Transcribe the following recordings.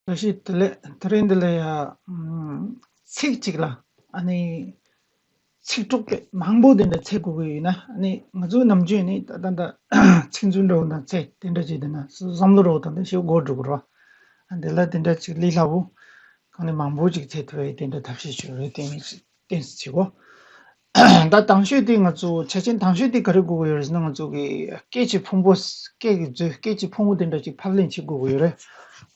ལ་ཤི་དེ་ལས་དེ་རིང་འདི་ལ་ཡ་ཚིག་གཅིག་ལ་ཨ་ནི་ཚིག་གྲོགས་པོ་མང་པོ་དེ་འདྲ་ཚེ་དགོས་ཀྱི་ཡོད་ན་ཨ་ནི་ང་ཚོའི་ནམ་རྒྱུན་ནི་ད་ད་ཚིག་མཛོད་འདྲ་བོ་དང་ཚེ་དེ་འདྲ་བྱས་དེ་ན་བསམ་བློ་རོགས་དང་ཤེས་སྒོ་སྒྲུབ་རོགས། འདི་ལ་དེ་འདྲ་ཅིག་ལི་སླ་བོ་གང་ནས་མང་པོ་ཅིག་ཚེ་དེ་བས་དེ་འདྲ་ཐབས་ཤེས་བྱོས་རེད་བསྟན་བསྟན་བྱེད་གོ། ད་དང་ཤོས་དེ་ང་ཚོ་ཆ་ཆེན་དང་ཤོས་དེ་ག་རེ་དགོས་ཀྱི་ཡོད་རེད་ཟེར་ན་ང་ཚོ་གི་སྐད་ཀྱི་ཕུང་པོ་སྐད་ཀྱི་མཛོད་སྐད་ཀྱི་ཕུང་བོ་དེ་འདྲ་ཅིག་ཕབ་ལེན་བྱེད་དགོས་ཀྱི་ཡོད་རེད་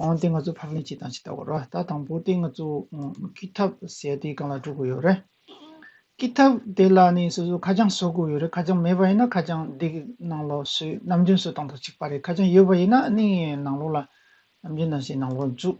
འོན་ཏེ་ང་ཚོ་ཕབ་ལེན་བྱེད་དང་ཇི་ལྟ་བ་རེད་ད་དང་པོ་དེ་ང་ཚོ་ཀི་ཐབ་ཟེར་དེ་གང་ལ་འགྲོ་དགོས་ཡོད་རེད་ཀི་ཐབ་དེ་ལ་ནི་སོ་སོ་ཁ་བྱང་བཟོ་དགོས་ཡོད་རེད་ཁ་བྱང་མེད་པ་ཡིན་ན་ཁ་བྱང་དེ་གི་ནང་ལོགས་སུ་ནམ་རྒྱུན་བཟོ་སྟངས་དང་གཅིག་པ་རེད་ཁ་བྱང་ཡོད་པ་ཡིན་ན་ནི་ནང་ལོགས་ལ་ནམ་རྒྱུན་ནང་བཞིན་ནང་ལོགས་འཛུགས་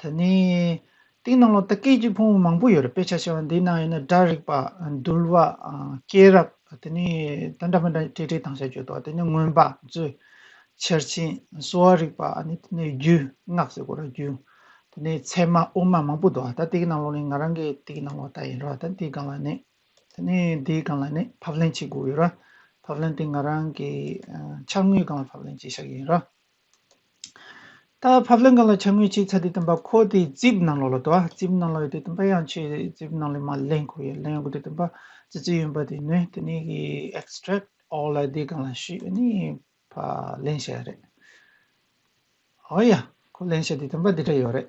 དེ་ནས། སྟེང་ནང་ལོགས་ལྟ་སྐད་ཅིག་ཕུང་བོ་མང་པོ་ཡོད་རེད་དཔེ་ཆ་ཆེ་བ་འདིའི་ནང་ཡོད་ན་སྒྲ་རིག་པ། འདུལ་བ། སྐྱེས་རབས་དེ་ནས་དེ་འདྲ་མི་འདྲ་སྤྲེལ་སྤྲེལ་ཐང་ཤ་གཅོད་དོ་དེ་ནས་མངོན་པ་མཛོད། ཆེར་ཆེན་གསོ་བ་རིག་པ་ཨ་ནི་དེ་ནས་རྒྱུ་སྔགས་ཟེར་གོ་ར་རྒྱུ། དེ་ནས་ཚད་མ་དབུ་མ་མང་པོ་འདུག་ད་དེ་གི་ནང་ལོགས་ནས་ང་རང་གི་དེ་གི་ནང་ལོགས་ལྟ་ཡིན་རོ་ད་དེའི་སྒང་ལ་ནས། དེ་ནས་དེའི་སྒང་ལ་ནས་ཕབ་ལེན་བྱེད་དགོས་ཡོད་ར། ཕབ་ལེན་དེ་ང་རང་གི་འཆར་ངོའི་སྒང་ལ་ཕབ་ལེན་བྱེད་ཤག་ཡིན་ར། ད་ཕབ་ལེན་གང་ལ་ཆ་ངོས་ཅིག་ཚ་དེ་སྟོན་པ་ཁོ་དེའི་རྩིབ་ནང་ལོགས་ལ་དོ་རྩིབ་ནང་ལོགས་ཡོད་དེ་སྟོན་པ་ཡང་ཆོས་རྩིབ་ནང་ལས་མ་ལེན་ཁོ་ཡོད་ལེན་ཡོད་དགོས་དེ་སྟོན་པ་ཙི་ཙི་ཡོད་པ་དེ་ནོས་དེ་ནས་ཀྱི extract all ལ་དེ་གང་ལ་ཞུས་པ་ནི་ཕ་ལེན་བྱས་རེད་ཨོ་ཡ་ཁོ་ལེན་བྱས་དེ་སྟོན་པ་དེ་འདྲ་ཡོད་རེད་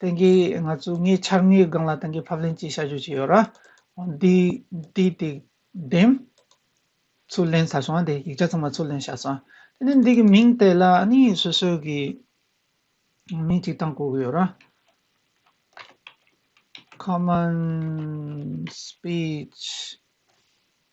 དེང་གི་ང་ཚོས་ངའི་འཆར་ངའི་སྒང་ལ་དེང་གི་ཕབ་ལེན་གྱི་བྱ་སྤྱོད་ཅིག་ཡོད་ར། འདིའི་དེག་འདེམས། ཚུར་ལེན་ཟ་སོང་དེ་ཡིག་ཆ་ཚང་མ་ཚུར་ལེན་བྱ་སོང། དེ་ནས་འདི་གི་མིང་དེ་ལ་ནི་སོ་སོའི་གི་མིང་ཅིག་བཏང་དགོས་གི་ཡོད་ར། Common Speech།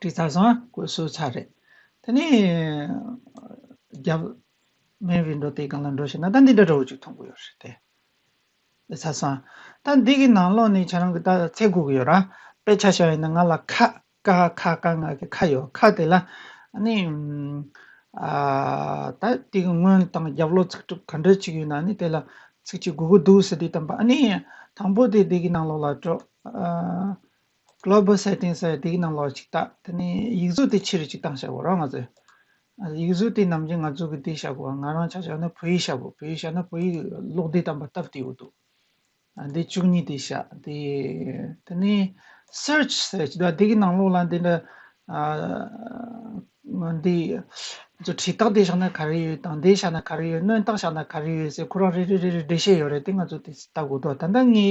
དེ་ཚ་ཚང་བཀོད་སྲོལ་ཚ་རེད་དེ་ནས་རྒྱ་མའི་བི་འགྲོ་དེ་གང་ལ་འགྲོ་ཞེ་ན་ད་འདི་འདྲ་འདྲ་བོ་ཅིག་མཐོང་གི་ཡོད་རེད་དེ་དེ་ཚ་ཚང་ད་འདི་གི་ནང་ལོགས་ནས་ཁྱེད་རང་གི་ད་ཚེ་གུག་ཡོད་ར་དཔེ་ཆ་ཤ་ཡིན་ན་ང་ལ་ཁ་ཀ་ཁ་ཀ་ང་གི་ཁ་ཡོད་ཁ་དེ་ལ་ནི་ཨ་ད་དེ་གི་སྔོན་དང་རྒྱབ་ལོགས་ཚིག་གྲུབ་ག་འདྲ་ཅིག་ཡོད་ན་ནི་དེ་ལ་ཚིག་ཅིག་གུག་གི་འདུག་ཟེར་དུས་དམ་པ་ཨ་ནི་དང་པོ་དེ་འདི་གི་ནང་ལོགས་ལ་འགྲོ་ཨ Global Settings ཨ་དེའི་ནང་ལོགས་ཅིག་བལྟ། དེ་ནས་ཡིག་གཟུགས་དེ་ཕྱིར་ཅིག་བཏང་ཤག་གོ་རང་ང་ཚོས། ཡིག་གཟུགས་དེ་ནམ་རྒྱུན་ང་ཚོ་གི་དེ་ཤག་གོ་ང་རང་ཆ་ཤག་ན་བོད་ཡིག་ཤག་གོ་བོད་ཡིག་ཤག་ན་བོད་ཡིག་ཀློག་འདི་དམ་པ་སྟབས་བདེའོ་འདུག་ཨ་དེ་བཅུ་གཉིས་དེ་ཤག་དེ་དེ་ནས Search Search ཨ་དེའི་ནང་ལོགས་ལ་འདི་འདྲ་ཨ་འདི་ཚོ་བྲིས་རྟགས་དེ་ཤག་ན་ག་རེ་ཡོད་དང་དེ་ཤག་ན་ག་རེ་ཡོད་སྣོན་རྟགས་ཤག་ན་ག་རེ་ཡོད་ཟེར་ཁོ་རང་རེ་རེ་རེ་རེ་འགྲེལ་བཤད་ཡོད་རེད་དེ་ང་ཚོ་དེ་ལྟ་དགོས་འདུག་ད་ལྟ་ངའི་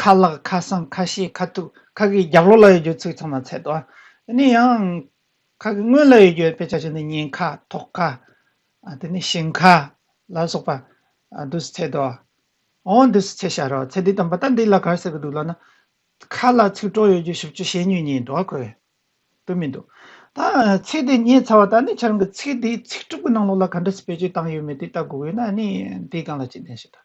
ཁ་ལག་ཁ་སང་ཁ་ཤེས་ཁ་ཐུག་ཁག་གི་རྒྱབ་ལོག་ལ་ཡོད་རྒྱུ་ཚུལ་ཚང་མ་ཚད་དོ། ནི་ཡང། ཁག་གི་སྔོན་ལ་ཡོད་རྒྱུ་དཔེ་ཆ་ཆེ་ནི་སྙིང་ཁ་ཐོག་ཁ། དེ་ནི་ཞིང་ཁ། ལ་སོགས་པ། དུས་སུ་ཚད་དོ། འོང་དུས་སུ་ཚད་ཤར་རོ་ཚད་འདི་དང་པོ་ད་འདི་ལ་གར་ཟེར་གི་འདུག་ལབ་ན། ཁ་ལ་ཚིག་གྲོགས་ཡོད་རྒྱུ་ཞིབ་ཆུ་ཤེས་ཉོན་ཉིད་འགྲོ་བ་ཁོལ། དུ་མི་འདུག། ད་ཚིག་འདི་རྙེད་ཚར་བ་ད་ནི་ཆ་རང་གི་ཚིག་འདིའི་ཚིག་གྲུབ་ཀྱི་ནང་ལོགས་ལ་ག་འདྲ་ཟེར་བེད་སྤྱོད་བཏང་ཡོད་མེད་དེ་ལྟ་དགོས་ཡོད་ན་ནི་འདིས་གང་ལ་ཅི་ལྡན་ཞེས་དང།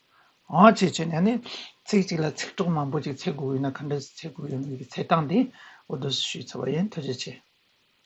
འོང་བྱེད་ཅེས་ན་ནི་ཚིག་གཅིག་ལ་ཚིག་གྲོགས་མང་པོ་ཅིག་འཚེད་དགོས་ཡོད་ན་ག་འདྲ་ཚེད་དགོས་ཡོད་མེད་ཀྱི་འཚེད་སྟངས་དེ་འོ་དོ་ཞུས་ཚར་བ་ཡིན་ཐུགས་རྗེ་ཆེ།